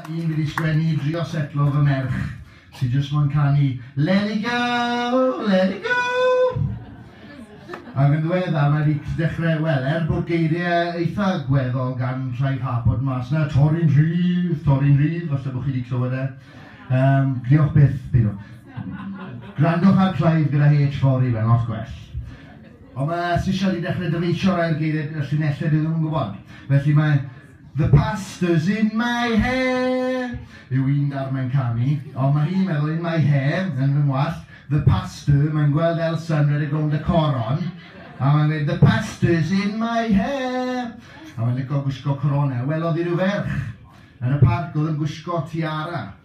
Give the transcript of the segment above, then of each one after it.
Dyma un dwi 'di sgwennu i drio setlo fy merch sydd jyst mo'n canu Let it go, let it go! Ac yn ddiweddar mae 'di dechrau, wel, er bod geiriau eitha gweddol gan Clive Harpot mas 'na, torri'n rhydd, torri'n rhydd, falle bod chi 'di clywed e. Yym, diolch byth, peidiwch. Gwrandwch ar Clive gyda H fory, mae'n lot gwell. Ond mae Arts isio ni dechrau dyfeisio rhai o'r geiriau gyda llinellau dydyn nhw'm yn gwybod. Felly mae The pastors in my hair yw un darn mae'n canu, ond mae hi'n meddwl in my hair, yn fy ngwallt, The pastor, mae'n gweld Elsa yn rhedeg rownd y coron, a mae'n gweud The pastor's in my hair! A mae'n licio gwisgo coronau. Welodd hi rhyw ferch yn y parc oedd yn gwisgo tiara.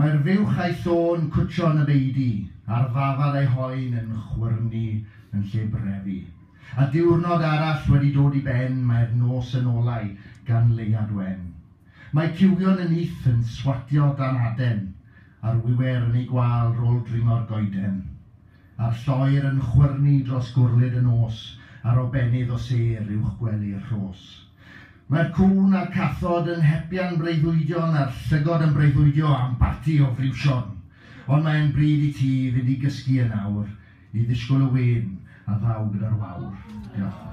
Mae'r fuwch a'i thôn cwtshio yn y beudy, a'r ddafad a'i hoen yn chwyrnu yn lle brefu. A diwrnod arall wedi dod i ben, mae'r nos yn olau gan leuad wen. Mae cywion y nyth yn swatio dan aden, a'r wiwer yn ei gwâl rôl dringo'r goeden. A'r lloer yn chwyrnu dros gwrlid y nos, Ar obennydd o sêr uwch gwely'r rhos. Mae'r cŵn a'r cathod yn hepian breuddwydion, A'r llygod yn breuddwydio am barti o friwsion. Ond mae e'n bryd i ti fynd i gysgu yn awr, I ddisgwyl y win a ddaw gyda'r wawr. Diolch.